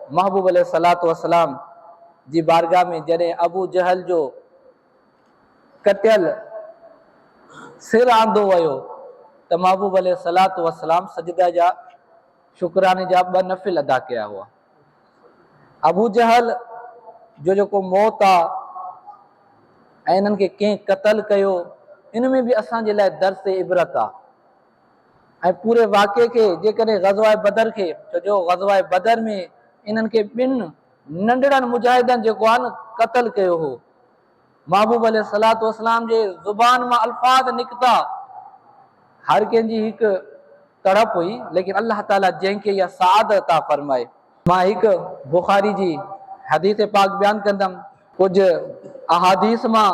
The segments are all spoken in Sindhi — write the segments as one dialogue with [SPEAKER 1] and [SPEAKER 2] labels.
[SPEAKER 1] محبوب عليه الصلوة والسلام جي بارگاھ ۾ جڏهن ابو جهل جو ڪٽيل سر آندو ويو ته محبوب عليه الصلوة والسلام سجده جا شڪراني جا ٻه نفل ادا ڪيا هئا. ابو جهل جو جيڪو موت آ ۽ انهن کي ڪنهن قتل ڪيو ان ۾ به اسان جي لاء درس عبرت آ. ۽ پوري واقعي کي جيڪڏهن غزوه بدر کي ڇو جو غزوه بدر ۾ انهن کي ٻن ننڍڙن مجاهدن جيڪو آهي نه قتل ڪيو هو محبوب عليه الصلاة والسلام جي زبان مان الفاظ نڪتا هر ڪنهن جي هڪ تڙپ هئي ليڪن الله تعالي جنهن کي اها سعادت عطا فرمائي مان هڪ بخاري جي حديث پاڪ بيان ڪندم، ڪجهه احاديث مان،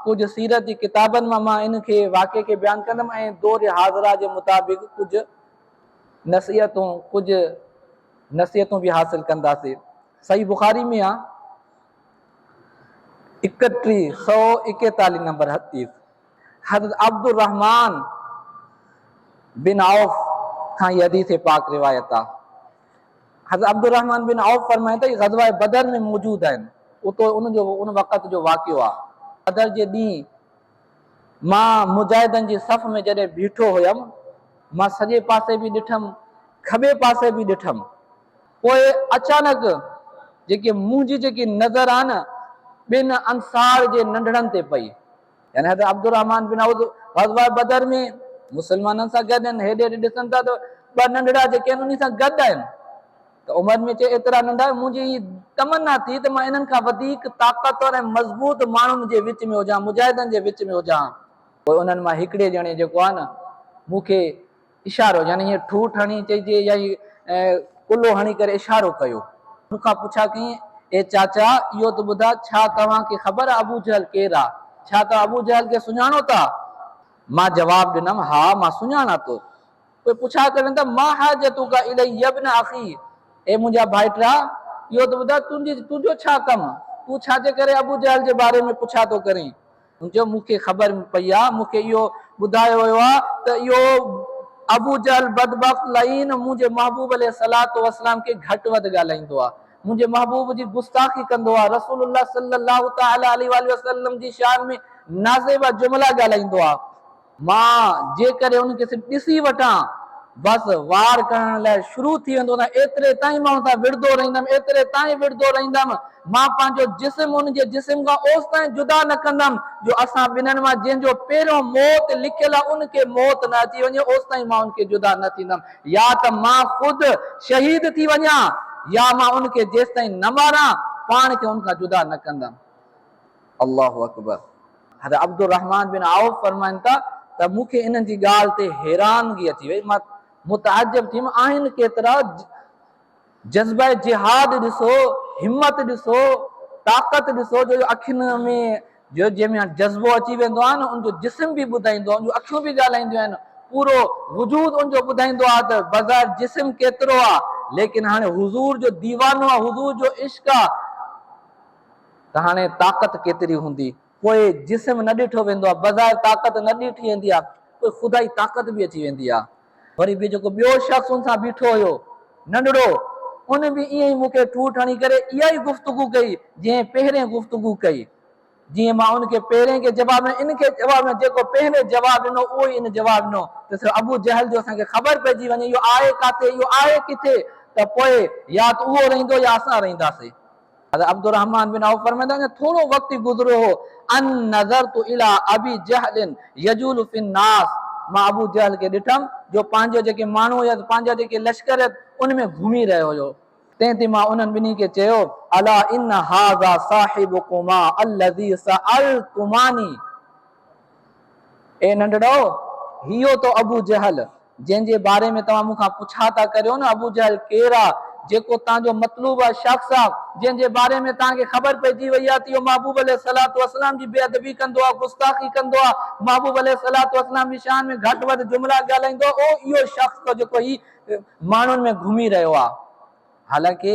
[SPEAKER 1] ڪجهه سيرت جي ڪتابن مان مان ان کي واقعي کي بيان ڪندم ۽ دور حاضره جي مطابق ڪجهه نصيحتون ڪجهه نصيحتون به حاصل ڪنداسي. صحيح بخاري ۾ آ اڪٽيهه سؤ ايڪيتاليهه نمبر حديث حضرت عبدالرحمان بن عوف کان هي حديث پاڪ روايت آ. حضرت عبدالرحمان بن عوف فرمائن ٿا، هي غزوه بدر ۾ موجود آهن، اتو ان جو ان وقت جو واقعو آهي، بدر جي ڏينهن مان مجاهدن جي صف ۾ جڏهن بيٺو هيم، مان سڄي پاسي به ڏٺم، کٻي پاسي به ڏٺم، پوء اچانڪ جيڪي منهنجي جيڪي نظر آهي نه، ٻن انصار جي ننڍڙن تي پئي، يعني حضرت عبدالرحمان بن عوض غزوه بدر ۾ مسلمانن سان گڏ آهن هيڏي هيڏي ڏسن ٿا ته ٻه ننڍڙا جيڪي آهن انهي سان گڏ آهن ته عمر ۾ چي ايترا ننڍا منهنجي هي تمنا ٿي ته مان انهن کان وڌيڪ طاقتور ۽ مضبوط ماڻهن جي وچ ۾ هجان مجاهدن جي وچ ۾ هجان پوء انهن مان هڪڙي ڄڻي جيڪو آهي نه مون کي اشارو يعني ائين ٺوٺ هڻي چئجي يا ائين ڪلهو هڻي ڪري اشارو ڪيو. مون کان پڇا ڪيائين، اي چاچا! اهو ته ٻڌاء ڇا توهان کي خبر آ ابو جهل ڪير آ؟ ڇا توهان ابو جهل کي سڃاڻو ٿا؟ مان جواب ڏنم، ها مان سڃاڻان ٿو. پوء پڇا ڪرڻ ته، ما حاجتك اليه يابن اخي! اي منهنجا ڀائٽرا! اهو ته ٻڌاء تنهنجي تنهنجو ڇا ڪم؟ تون ڇا جي ڪري ابو جهل جي باري ۾ پڇا ٿو ڪرين؟ هن چيو، مون کي خبر پئي آهي، مون کي اهو ٻڌايو ويو آهي ته اهو ابوجهل بدبخت لعين منهنجي محبوب عليه الصلوة والسلام کي گهٽ وڌ ڳالهائيندو آهي، منهنجي محبوب جي گستاخي ڪندو آهي، رسول الله صلّي اللّٰه تعالٰي عليه واٰله وسلّم جي شان ۾ نازيبا جملا ڳالهائيندو آهي. مان جيڪڏهن ان کي صرف ڏسي وٺان، بس وار ڪرڻ لاء شروع ٿي ويندو هوندس. ايتري تائين مان هن سان وڙهندو رهندم، ايتري تائين وڙهندو رهندم. مان پنهنجو جسم هن جي جسم کان اوستائين جدا نه ڪندم جو اسان ٻنهن مان جنهن جو پهريون موت لکيل آهي، ان کي موت نه اچي وڃي، اوستائين مان هن کي جدا نه ٿيندم. يا ته مان خود شهيد ٿي وڃان يا مان هن کي جيستائين نه ماران، پاڻ کي هن کان جدا نه ڪندم. الله اڪبر حضرت عبدالرحمان بن عوف فرمائن ٿا ته مون کي انهن جي ڳالهه تي حيرانگي اچي وئي مان متعجب ٿيم آهن ڪيترا جذبه جهاد ڏسو همت ڏسو طاقت ڏسو جو اکين ۾ جو جنهن ۾ جذبو اچي ويندو آهي نه ان جو جسم به ٻڌائيندو آهي ان جون اکيون به ڳالهائينديون آهن پورو وجود ان جو ٻڌائيندو آهي ته بظاهر جسم ڪيترو آهي ليڪن هاڻي حضور جو ديوانو آهي حضور جو عشق آهي ته هاڻي طاقت ڪيتري هوندي؟ پوء جسم نه ڏٺو ويندو آهي، بظاهر طاقت نه ڏٺي ويندي آهي، پوء خدائي طاقت به اچي ويندي آهي. وري به جيڪو ٻيو شخص ان سان بيٺو هيو، ننڍڙو، ان به ائين ئي مون کي ٺوٺ هڻي ڪري اها ئي گفتگو ڪئي، جئين پهرين گفتگو ڪئي. جيئن مان ان کي پهرين کي جواب ڏنو، ان کي جواب ڏنو، جيڪو پهرين جواب ڏنو، اهو ئي ان جواب ڏنو ته صرف ابو جهل جو اسان کي خبر پئجي وڃي، اهو آهي ڪاٿي؟ اهو آهي ڪٿي؟ ته پوء يا ته اهو رهندو يا اسان رهنداسين. حضرت عبدالرحمان بن عوف فرمائن ٿا اڃا ٿورو وقت ئي گذريو هو ان نظرت الي ابي جهل يجول في الناس مان ابو جهل کي ڏٺم جو پنهنجو جيڪي ماڻهو هيس پنهنجا جيڪي لشڪر هيس ان ۾ گهمي رهيو هيو. تنهن تي مان انهن ٻنهي کي چيو الا ان هذا صاحبڪما الذي سالتماني. اي ننڍڙو! هيو تو ابو جهل، جنهن جي باري ۾ توهان مون کان پڇا ٿا ڪريو نه، ابو جهل ڪير آ؟ جيڪو توهان جو مطلوبه شخص آ، جنهن جي باري ۾ توهان کي خبر پئجي وئي آ ته اهو محبوب عليه الصلوة والسلام جي بي ادبي ڪندو آ، گستاخي ڪندو آ، محبوب عليه الصلوة والسلام جي شان ۾ گهٽ وڌ جملا ڳالهائيندو آ، اهو اهو شخص اٿو جيڪو هي ماڻهن ۾ گهمي رهيو آ. حالانڪه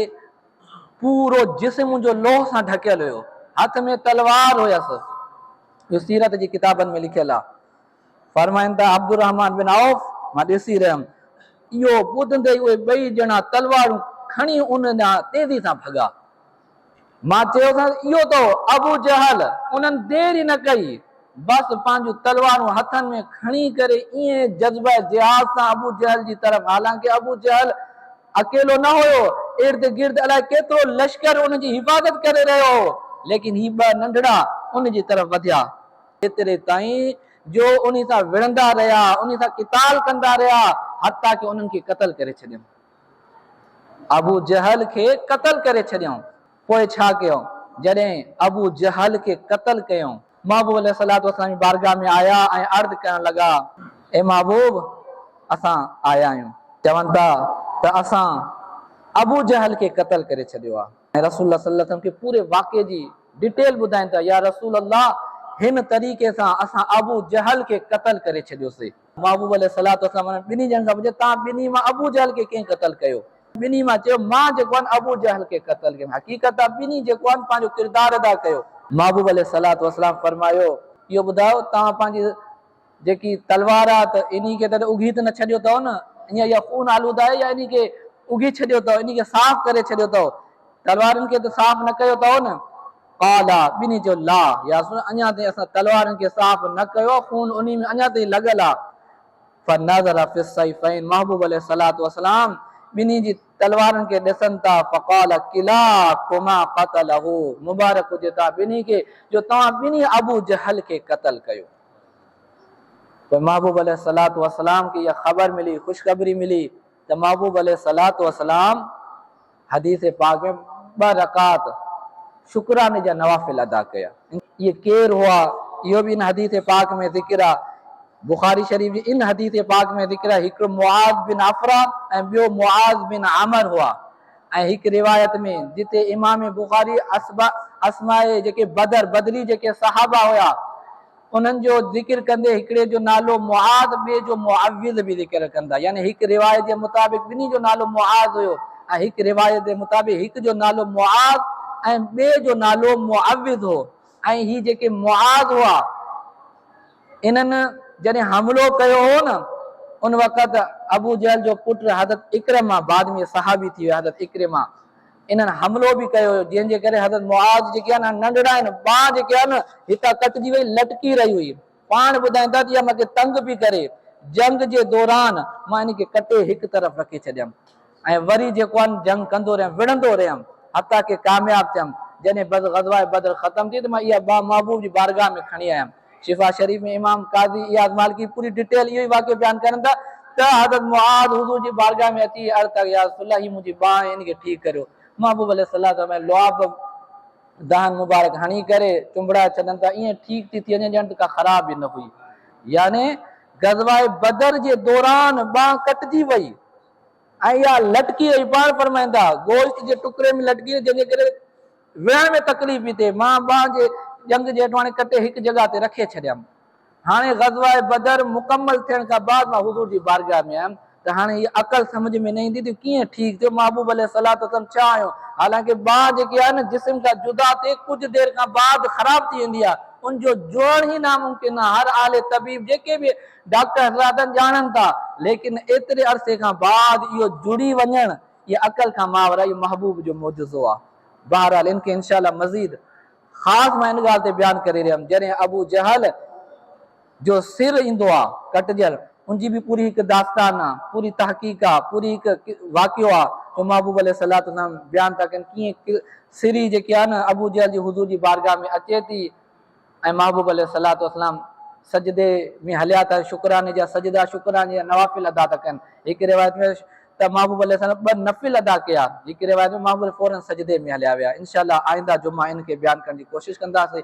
[SPEAKER 1] پورو جسم منهنجو لوهه سان ڍڪيل هيو. هٿ ۾ تلوار هيس. اهو سيرت جي ڪتابن ۾ لکيل آهي. فرمائن ٿا عبدالرحمان بن عوف مان ڏسي رهيم. اهو ٻڌندي ئي اهي ٻئي ڄڻا تلوارون کڻي ان ڏانهن تيزي سان ڀڳا. مان چيوسانس اهو تو ابو جهل! انهن دير ئي نه ڪئي. بس پنهنجون تلوارون هٿن ۾ کڻي ڪري ائين جذبه جهاد سان ابو جهل جي طرف حالانڪه ابو جهل اڪيلو نه هيو، ارد گرد الائي ڪيترو لشڪر ان جي حفاظت ڪري رهيو هو، ليڪن هي ٻه ننڍڙا ان جي طرف وڌيا، ايتري تائين جو انهي سان وڙهندا رهيا، انهي سان قتال ڪندا رهيا، حتيٰ ڪي انهن کي قتل ڪري ڇڏيائون. ابو جهل کي قتل ڪري ڇڏيائون. پوء ڇا ڪيو؟ جڏهن ابو جهل کي قتل ڪيائون، محبوب عليه الصلوة والسلام جي بارگاھ ۾ آيا ۽ عرض ڪرڻ لڳا، اي محبوب! اسان آيا آهيون. چون ٿا ته اسان ابو جهل کي قتل ڪري ڇڏيو آهي ۽ رسول الله صلي الله عليه وسلم کي پوري واقعي جي ڊيٽيل ٻڌائين ٿا، يا رسول الله! هن طريقي سان اسان ابو جهل کي قتل ڪري ڇڏيوسي. محبوب عليه الصلوة والسلام انهن ٻنهي ڄڻن کان پڇيو، توهان ٻنهي مان ابو جهل کي ڪنهن قتل ڪيو؟ ٻنهي مان چيو، مان جيڪو آهن ابو جهل کي قتل ڪيم. حقيقت ته ٻنهي جيڪو آهن پنهنجو ڪردار ادا ڪيو. محبوب عليه الصلوة والسلام فرمايو، اهو ٻڌايو توهان پنهنجي جيڪي تلوار آهي ته انهي کي ته اگهي ته نه ڇڏيو اٿئو نه؟ ائين اها خون آلوده آهي يا انهي کي اگهي ڇڏيو اٿئو، انهي کي صاف ڪري ڇڏيو اٿئو؟ تلوارن کي ته صاف نه ڪيو اٿئو نه؟ قالا، ٻنهي چيو، لا، يا رسول الله، اڃا تائين اسان تلوارن کي صاف نه ڪيو آهي، خون انهي ۾ اڃا تائين لڳل آهي. فنظر في السيفين، محبوب عليه الصلوة والسلام ٻنهي جي تلوارن کي ڏسن ٿا، فقال، ڪلاڪما قتله، مبارڪ هجي توهان ٻنهي کي جو توهان ٻنهي ابو جهل کي قتل ڪيو. پوء محبوب عليه الصلوة والسلام کي اها خبر ملي، خوشخبري ملي. ته محبوب عليه الصلوة والسلام حديث پاڪ ۾ ٻه رڪعت شڪراني جا نوافل ادا ڪيا. اهي ڪير هئا اهو به ان حديث پاڪ ۾ ذڪر آهي. بخاري شريف جي ان حديث پاڪ ۾ ذڪر آهي هڪڙو معاذ بن عفراء ۽ ٻيو معاذ بن عمر هئا ۽ هڪ روايت ۾ جتي امام بخاري اسماء جيڪي بدر، بدري جيڪي صحابه هيا، انهن جو ذڪر ڪندي هڪڙي جو نالو معاذ ٻئي جو معوذ به ذڪر ڪن ٿا يعني هڪ روايت جي مطابق ٻنهي جو نالو معاذ هيو ۽ هڪ روايت جي مطابق هڪ جو نالو معاذ ۽ ٻئي جو نالو معوذ هو ۽ هي جيڪي معاذ هئا انهن جڏهن حملو ڪيو هو نه ان وقت ابو جهل جو پٽ حضرت اڪرمه بعد ۾ صحابي ٿي ويو حضرت اڪرمه انهن حملو به ڪيو هيو جنهن جي ڪري حضرت معاذ جيڪي آهن هن ننڍڙا آهن ٻانهن جيڪي آهي نه هتان ڪٽجي وئي لٽڪي رهي هئي پاڻ ٻڌائين ٿا ته اها مونکي تنگ پئي ڪري جنگ جي دوران مان ان کي ڪٽي هڪ طرف رکي ڇڏيم ۽ وري جيڪو آهن جنگ ڪندو رهيم وڙهندو رهيم حتيٰ ڪي ڪامياب ٿيم جڏهن بس غزوه بدر ختم ٿي ته مان اها ٻانهن محبوب جي بارگاهه ۾ کڻي آيم. شفا شريف ۾ امام قاضي اياز مالڪي پوري ڊٽيل اهو ئي واقعو بيان ڪرن ٿا ته حضرت معاذ حضور جي بارگاهه ۾ اچي عرض ڪيا يا رسول الله هي منهنجي ٻانهن آهي ان کي ٺيڪ ڪريو محبوب عليه السلام فرمايو لعاب دهن مبارڪ هڻي ڪري چنبڙائي ڇڏن ته ائين ٺيڪ ٿي ٿي وڃي ڄڻ ته ڪا خراب ئي نه هئي يعني غزوه بدر جي دوران ٻانهن ڪٽجي وئي ۽ اها لٽڪي رهي پاڻ فرمائين ٿا گوشت جي ٽڪري ۾ لٽڪي رهي جنهن جي ڪري ويهڻ ۾ تڪليف پي ٿئي، مان ٻانهن جي ڄنگهه جي هيٺ هاڻي ڪٽي هڪ جڳهه تي رکي ڇڏيم. هاڻي غزوه بدر مڪمل ٿيڻ کان بعد مان حضور جي بارگاهه ۾ آيم ته هاڻي هيء عقل سمجهه ۾ نه ايندي ته ڪيئن ٺيڪ ٿيو محبوب عليه الصلوة والسلام ڇا آهيون، حالانڪه ٻانهن جيڪي آهي نه جسم کان جدا ٿئي ڪجهه دير کان بعد خراب ٿي ويندي آهي ان جو جوڙڻ ئي ناممڪن آهي هر اهل طبيب جيڪي به ڊاڪٽر حضرات آهن ڄاڻن ٿا ليڪن ايتري عرصي کان بعد اهو جڙي وڃڻ اها عقل کان ماور اهو محبوب جو معجزو آ. بهرحال ان کي انشاء الله مزيد خاص مان ان ڳالهه تي بيان ڪري رهيم جڏهن ابو جهل جو سر ايندو آ ڪٽجل ان جي به پوري هڪ داستان آ پوري تحقيق آ پوري هڪ واقعو آ جو محبوب عليه الصلوة والسلام بيان ٿا ڪن ڪيئن سري جيڪي آ نه ابو جهل جي حضور جي بارگاهه ۾ اچي ٿي ۽ محبوب عليه الصلوة والسلام سجدي ۾ هليا ته شڪراني جا سجدا، شڪراني جا نوافل ادا ٿا ڪن. هڪ روايت ۾ ته محبوب عليه السلام ٻه نفل ادا ڪيا. هڪ روايت ۾ محبوب عليه فوراً سجدي ۾ هليا ويا. انشاء الله آئنده جمعه ان کي بيان ڪرڻ جي ڪوشش ڪنداسين.